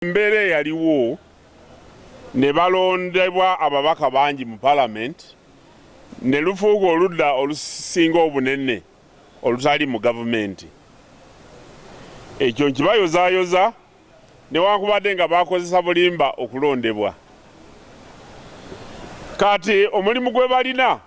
Embeera eyaliwo ne balondebwa ababaka bangi mu palamenti ne lufuuka oludda olusinga obunene olutali mu gavumenti. Ekyo nkibayozaayoza newankubadde nga baakozesa bulimba okulondebwa. Kati omulimu gwe balina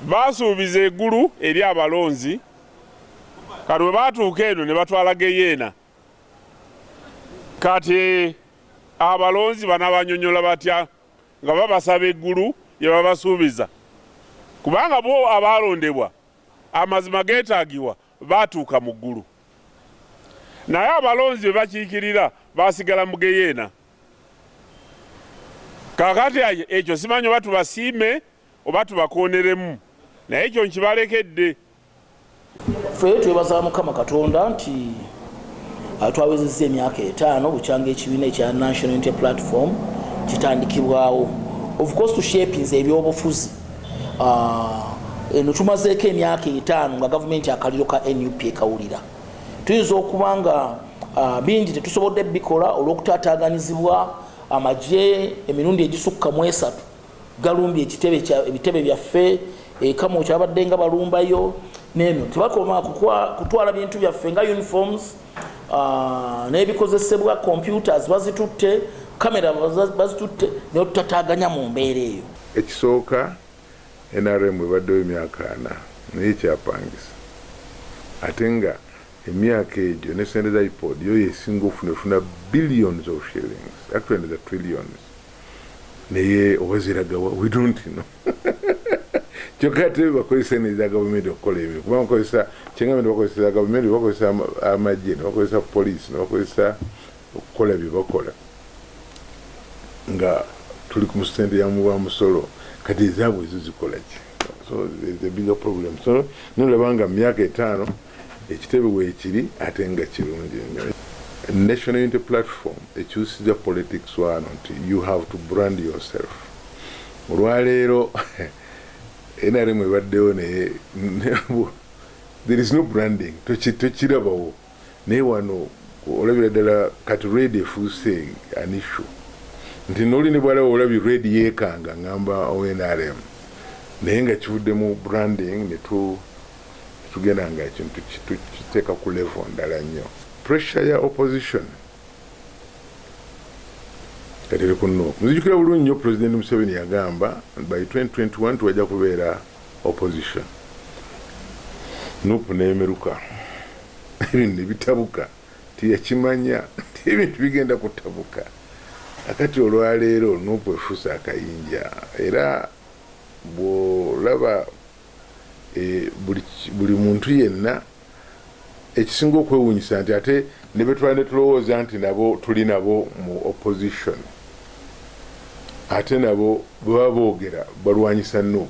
baasuubiza eggulu eri abalonzi, kati bwe batuuka eno ne batwala geyeena. kati abalonzi banabanyonyola batya nga babasaba eggulu yebabasuubiza kubanga bo abaalondebwa amazima geetaagiwa baatuuka mu ggulu naye abalonzi be bakiikirira baasigala mu geyeena kakati ekyo simanyi oba tubasiime oba tubakooneremu naye ekyo nkibalekedde Ffe twebaza Mukama Katonda nti twawezezza emyaka etaano bukyanga ekibiina ekya National Unity Platform kitandikibwawo of course to shapings ebyobufuzi ah, eno tumazeeko emyaka etaano nga gavumenti akaliro ka nup ekawulira tuyinza okuba nga ah, bingi tetusobodde bikola olw'okutaataaganyizibwa amagye emirundi egisukka mu esatu galumbye ekitebe kya ebitebe byaffe ekamu kyabadde nga balumbayo neno tebakoma kutwala bintu byaffe nga uniforms ah, n'ebikozesebwa computers bazitutte kamera bazitutte naye tutataganya mu mbeera eyo ekisooka nrm ebaddewo emyaka ana naye kyapangisa ate nga emyaka egyo ne sente za ipod yo yesinga ofuna efuna billions of shillings actually the trillions naye oba ziragawa we don't know kyokka ate bakozesa eno eza gavumenti okukola ebyo kuba bakozesa kyengambe nebakozesa za gavumenti bakozesa amagye nebakozesa poliisi nebakozesa okukola bye bakola nga tuli ku musente ya muba musolo kati ezaabwe ezo zikolaki so there's a bigger problem so nolabanga mu myaka etaano Ekitebe weekiri ate nga kirungi nnyo. National Unity Platform ekyusizza politics wano nti you have to brand yourself. Olwaleero nrm ebaddewo naye there is no branding tokirabawo naye wano olabira ddala kati red efuuse an issue nti noli ne bwalaba olabi red yeekanga ngamba onrm naye nga kivuddemu branding netu Tetugenda nga ekintu tukiteeka ku level ndala nnyo. Pressure ya opposition kati eri ku nup. Nzijukira bulungi nnyo Pulezidenti Museveni yagamba by 2021 tiwajja kubeera opposition. Nup neemeruka ebintu ne bitabuka. Teyakimanya nti ebintu bigenda kutabuka. Akati olwaleero nup efuuse akayinja era bw'olaba eh, buli muntu yenna ekisinga okwewunyisa nti ate ne betwala ne tulowooza nti nabo tuli nabo mu opposition ate nabo bwe baba boogera balwanyisa nup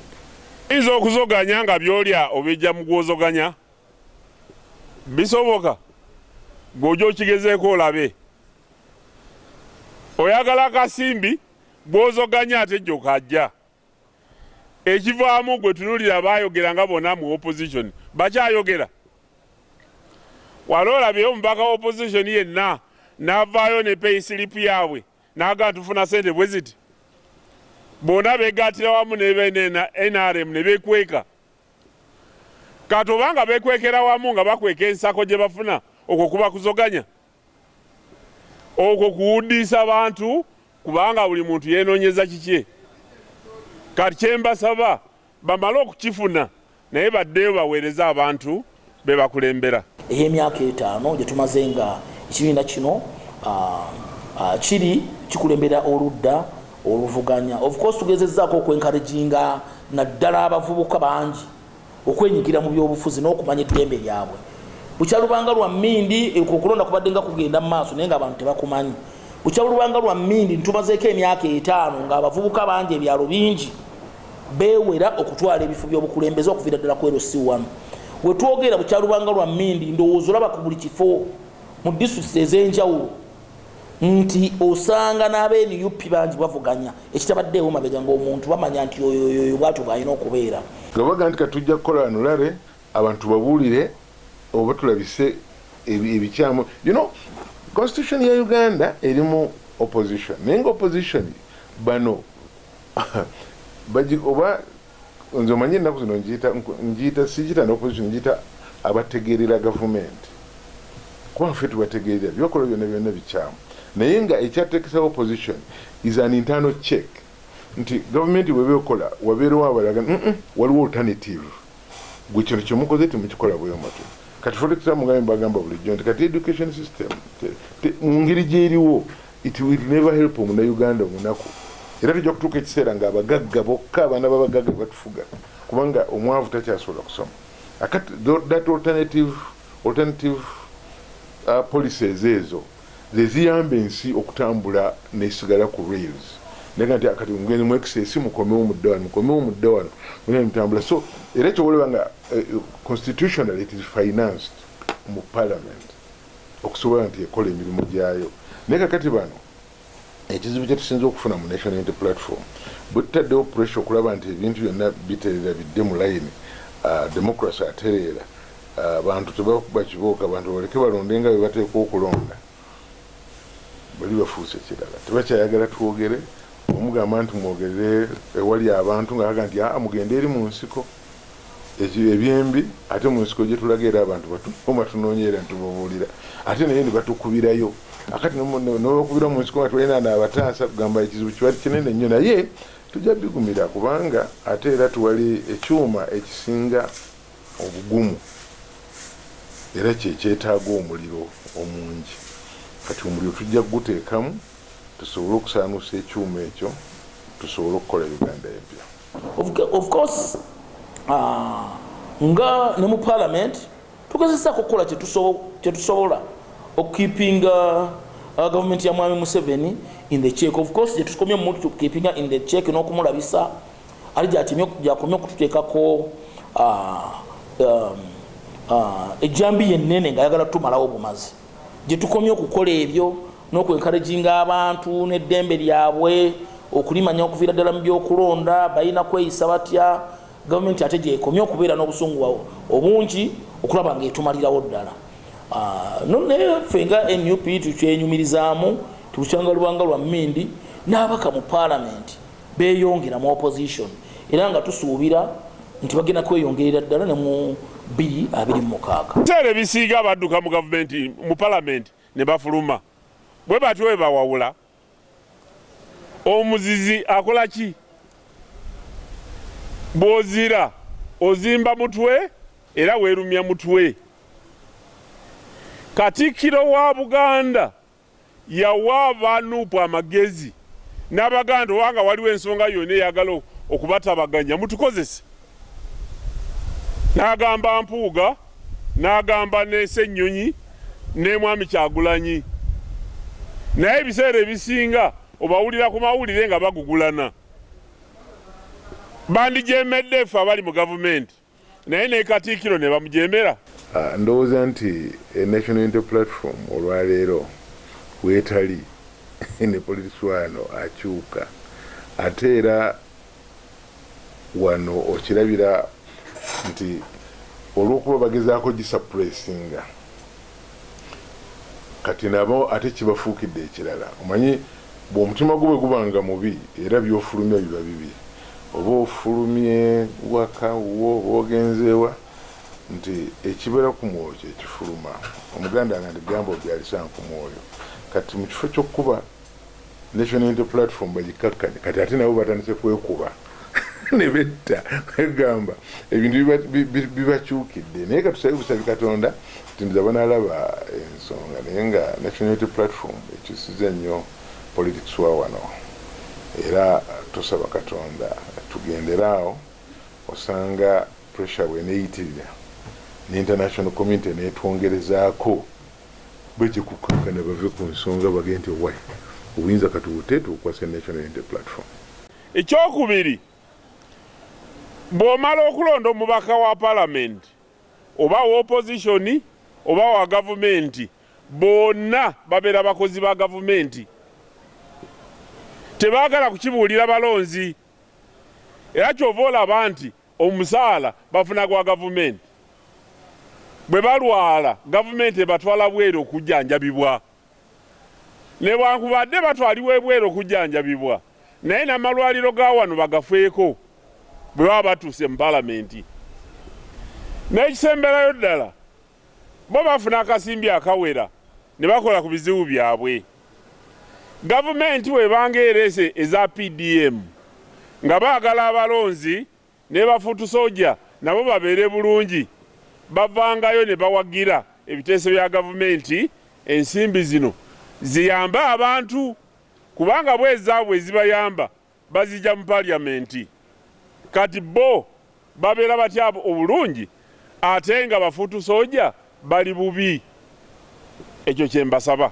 oyinza okuzoganya nga byolya obijja mu gwozoganya bisoboka gwoja okigezeeko olabe oyagala akasimbi gwozoganya ate jokajja Ekivaamu gwe tunulira baayogera nga bona mu opposition bakyayogera. Wali olabyeyo omubaka wa opposition yenna n'avaayo ne pay slip yaabwe n'agamba tufuna ssente bwe ziti? Bona beegattira wamu ne NRM ne beekweka. Kati oba nga beekwekera wamu nga bakweka ensako gye bafuna okwo kuba kuzoganya? okwo kuwuddiisa bantu kubanga buli muntu yenoonyeza kikye kati kyembasaba bamale okukifuna naye baddeyo baweereze abantu bebakulembera. ey'emyaka etaano gye tumaze nga ekibiina kino kiri kikulembera oludda oluvuganya of course tugezezaako okwenkaleginga naddala abavubuka bangi okwenyigira mu byobufuzi n'okumanya eddembe lyabwe bukya lubanga lwa mmindi ekwo okulonda kubadde nga kugenda mu maaso naye ng'abantu tebakumanyi bukya lubanga lwa mmindi ntumazeeko emyaka etaano ng'abavubuka bangi ebyalo bingi beewera okutwala ebifo by'obukulembeze okuviira ddala ku lc wano wetwogera bukya lubanga lwa mmindi ndowooza olaba ku buli kifo mu disitulikiti ez'enjawulo nti osanga n'aba nup bangi bavuganya ekitabaddeewo mabega ng'omuntu bamanya nti oyoyoyo bwatyo bw'alina okubeera. Nga bagamba nti kati tujja kukola anulare abantu tubabuulire oba tulabise ebikyamu. You know, constitution ya Uganda erimu opposition naye nga opposition bano oba. nze omanyi ennaku zino njiyita sijita ne opposition njiyita abategeerera gavumenti kuba nfe tubategeerera byebakola byonna byonna bikyamu naye nga ekyateekesawo opposition is an internal check nti gavumenti bweba ekola wabeerewo abalaga waliwo alternative gwe kino kyemukoze temukikola bwemutyo kati for example nga bagamba bulijjo nti kati education system mu ngeri gyeriwo It will never help omuna Uganda omunaku era tujja kutuuka ekiseera nga abagagga bokka abaana babagagga batufuga kubanga omwavu takyasobola kusoma akati that alternative alternative uh, policies ezo zeziyamba ensi okutambula nesigala ku rails naga nti akati mugenzi mu excess mukomewo mudde wano mukomewo mudde wano mune mutambula so era ekyobolaba nga uh, constitutional it is financed mu parliament okusobola nti ekola emirimu gyayo naye kakati bano ekizibu kyetusinza okufuna mu National Unity Platform bwetutaddewo pressure okulaba nti ebintu byonna biterera bidde mu layini uh, democracy atereera abantu uh, tebakuba kibooka abantu baleke balonde nga bebateekwa okulonda bali bafuuse kirala tebakyayagala twogere omugamba nti mwogerere ewali abantu nga aga nti aa ah, mugende eri mu nsiko Ekyo ebyembi ate mu nsiko gyetulaga era abantu batuvuma tunoonya era ntububuulira ate naye ne batukubirayo akati nobakubira mu nsiko nga tulina naabataasa kugamba ekizibu kibali kinene nnyo naye tujja bigumira kubanga ate era tuwali ekyuma ekisinga obugumu era kyekyetaaga omuliro omungi kati omuliro tujja kuguteekamu tusobole okusaanuusa ekyuma ekyo tusobole okukola uganda empya of course uh, nga ne mu parliament tugezesaako okukola kyetusobola okukipinga uh, gavumenti ya mwami museveni in the check of course gyetukomye omuntu tukipinga in the check n'okumulabisa ali gyakomye okututeekako uh, um, uh, ejjambi yennene nga ayagala tumalawo obumazi gye tukomye okukola ebyo n'okwenkalaginga abantu n'eddembe lyabwe okulimanya okuviira ddala mu byokulonda balina kweyisa batya gavumenti ate gyekomye okubeera n'obusungu wawo obungi okulaba nga etumalirawo ddala ah, nonaye ffe nga nup tukyenyumirizaamu tubukyanga lubanga lwa mmindi n'abaka mu paalamenti beyongera mu opposition era nga tusuubira nti bagenda kweyongerera ddala ne mu bbiri abiri mu mukaaga. Ebiseera ebisiiga abadduka mu gavumenti mu palamenti ne bafuluma bwe batyo bwe bawawula omuzizi akola ki bw'ozira ozimba mutwe era weerumya mutwe. Katikkiro wa Buganda Yawa aba nup amagezi nabagamba nti obanga waliwo ensonga yona eyagala okubatabaganya mutukozese. Nagamba Mpuuga, nagamba ne Ssenyonyi ne mwami Kyagulanyi. Naye ebiseera ebisinga obawulira ku mawulire nga bagugulana. Bandijemedde ffe abali mu gavumenti. naye ne Katikkiro ne bamujeemera? Ndowooza nti National Unity Platform olwaleero weetali ne politiswaano akyuka ate era wano okirabira nti olw'okuba bagezaako gisa ppuleesinga kati nabo ate kibafuukidde ekirala omanyi bwomutima gwo bwegubanga mubi era byofulumya biba bibi oba ofulumye waka wo oba ogenzeewa nti ekibeera ku mwoyo kyekifuluma omuganda nga nti gamba obyalisa nku mwoyo kati mukifo kyokuba Nation Unity Platform bagikkakkanye kati ate nabo batandise kwekuba ne betta egamba ebintu bibakyukidde naye katusabe busabi katonda tindiza banalaba ensonga naye nga National Unity Platform ekyusiza nnyo politics wa wano era tusaba katonda tugenderaawo osanga pressure bweneyitirira ne international community netwongerezaako Bajja kukkakkana bave ku nsonga bage nti owai obuyinza katuwutte tubukwase National Unity Platform. Ekyokubiri, bw'omala okulonda omubaka wa Palamenti oba w'opozisoni oba wa gavumenti bonna babeera bakozi ba gavumenti. Tebaagala kukibuulira balonzi era ky'ova olaba nti. Omusaala bafuna gwa gavumenti. Bwe balwala gavumenti ebatwala bweru okujjanjabibwa. Newankubadde batwalibwa ebweru okujjanjabibwa naye n'amalwaliro ga wano bagafeeko bwe baba batuuse mu Palamenti. N'ekisemberayo ddala. Bo bafuna akasimbi akawera ne bakola ku bizibu byabwe. Gavumenti bw'ebanga ereese eza PDM nga baagala abalonzi n'ebafuutusoja nabo babeere bulungi, bavangayo ne bawagira ebiteeso bya Gavumenti ensimbi zino ziyambe abantu kubanga bw'ezaabwe ezibayamba Bazija mu parliament kati bbo babera batya obulungi ate nga bafuutu soja bali bubi ekyo kyembasaba.